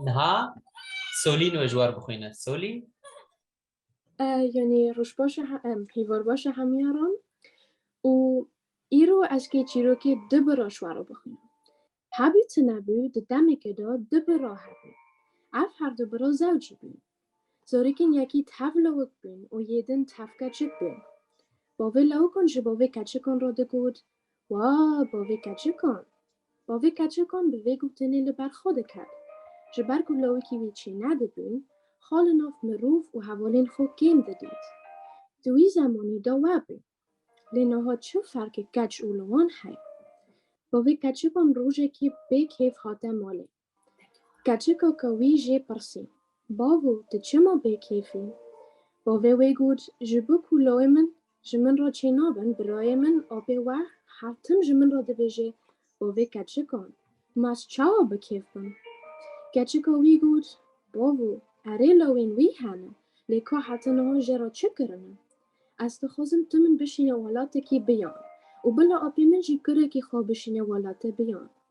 Niha Solî nû ji war bixwîne. Solî? Yanî rojbaşa em hîvarbaşa hemîyaran û îro ez kê çîrokê di bi ra ji war bixwîne. Hebî ti nebû di demeke de di bi ra hebû. Ev her du bi ra zewcî bûn. Zarokên yekî tev lawik bûn û yê din tev keçik bûn. Bavê lawikan ji bavê keçikan re digot Wa bavê keçikan! Bavê keçikan bi vê gotinê li ber xwe diket. Ji ber ku lawikî wî çê nedibûn, xwe li nav mirov û hevalên xwe kêm didît. Di wî zemanî de we bû. Lê niha çi ferqê keç û li wan heye? Bavê keçikan rojekê bê kêf hate malê. Keçika ka wî jê pirsî, Bavo, tu çima bêkêf î? Bavê wê got, Ji bo ku lawê min ji min re çênabin, birayê min apê we her tim ji min re dibêje, Bavê keçika, ma ez çawa bi kêf bim? Keçika wî got, Bavo, erê lawên wî hene, lê ka heta niha jê re çi kirine? Ez dixwazim tu min bişîne welatekî biyan û bila apê min jî kurekî xwe bişîne welate biyan.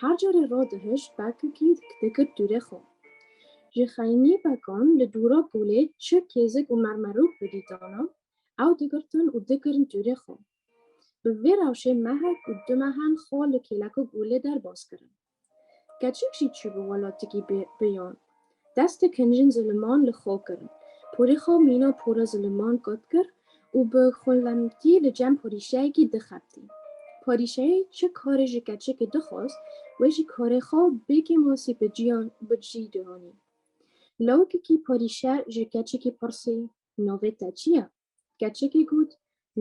Her carê ra dihişt pekikî dikir dûrê xwe. Ji xeynî pekan li dûra polê çi kêzik û mermerûk bidîtana, ew digirtin û dikirin dûrê xwe. Bi vê rewşê mehek û du mehen xwe li kêleka polê derbas kirin. Keçik jî çû bi welatikî biyan. Dest dikin jin ziliman li xwe kirin. Porê xwe mîna pora ziliman qat kir û bi xwinlemkî li cem porîşeyekî dixebitî. Porîşeyê çi karê ji keçikê dixwest, wê jî karê xwe bê kêmasî bi ciyan bi cî dihanî. Lawikekî porîşe ji keçikî pirsî, Navê te çi ye? Keçikê got,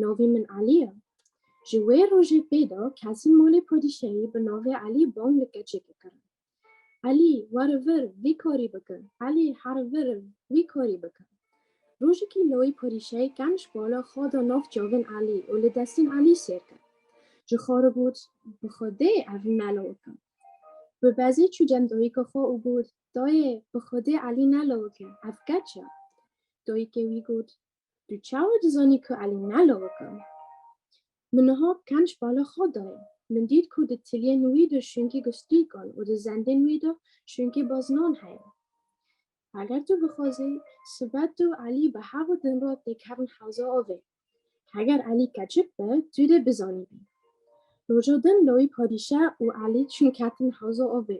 Navê min Elî ye. Ji wê rojê pê de kesên malê padîşahî bi navê Elî bang li keçikê kirin. Elî, were vir, vî karî bike! Elî, here vir, wî karî bike! Rojekî layî padîşahî kem ji bala xwe da nav çavên Elî û li destên Elî sêr kir. Ji xwe re got, Bi xwedê ev ne lawik e. Bi bezê çû cem dayika xwe û got, Dayê, bi Xwedê Elî nelewik e, ev keç e. Dayikê wî got, Tu çawa dizanî ku Elî nelewik e? Min niha kenc bala xwe dayê. Min dît ku di tiliyên wî de şûnkê gustîkan û di zendên wî de şûnkê bazinan heye. Heger tu bixwazî, sibe tu û Elî bi hev û din re tê kevin hewza avê. Heger Elî keçik be, tu dê bizanîbî. Roja din lawê padîşah û Elî çûn ketin hewza avê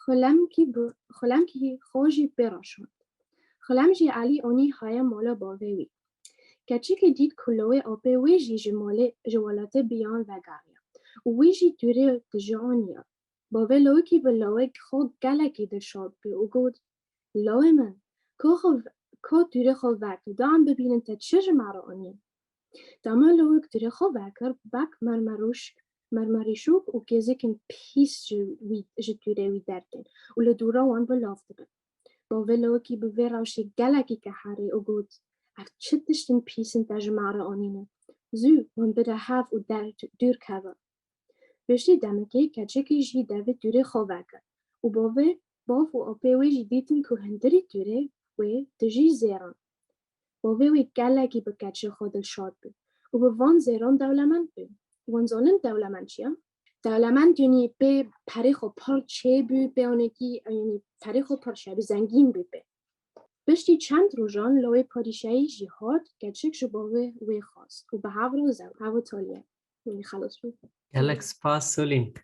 Xulem kî bi xulem kî xwe jî pê re şand. Xulem jî Elî onî haye mala bavê wî. Keçikê dît ku lawê apê wê jî ji malê ji welatê biyan vegeriya û wî jî tûrê tije aniya. Bavê lawikî bi lawê xwe gelekî dirşandbû û got, Lawê min, ka xwe ka tûrê xwe ver tu da em bibînin te çi ji me re anî? Dama lewik dirê xwe vekir, bek mermerûşk mermerîşûk û gêzekên pîs ji wî ji dûrê wî dertên û li dûra wan belav dibin. Bavê lewikî bi vê rewşê gelekî keharî û got, Ev çi tiştên pîs in te ji me re anîne? Zû wan bide hev û der dûr keve. Piştî demekê keçekê jî devê dûrê xwe vekir û bavê bav û apê wê jî dîtin ku hundirî dûrê wê dijî zêran. Bo vê wî gelekî bi keçê xwe dilşad bû û bi van zêran dewlemend bû. Wan zanîn dewlemend çi ye? Dewlemend yanî pê perê xwe pir çêbû, pê anekî yanî perê xwe pir çêbû, zengîn bû pê. Piştî çend rojan lawê padîşahî jî hat, keçik ji bo wê wê xwest û bi hev re zew, hev û taliye, yanî xelas bû. Gelek spas Solîn.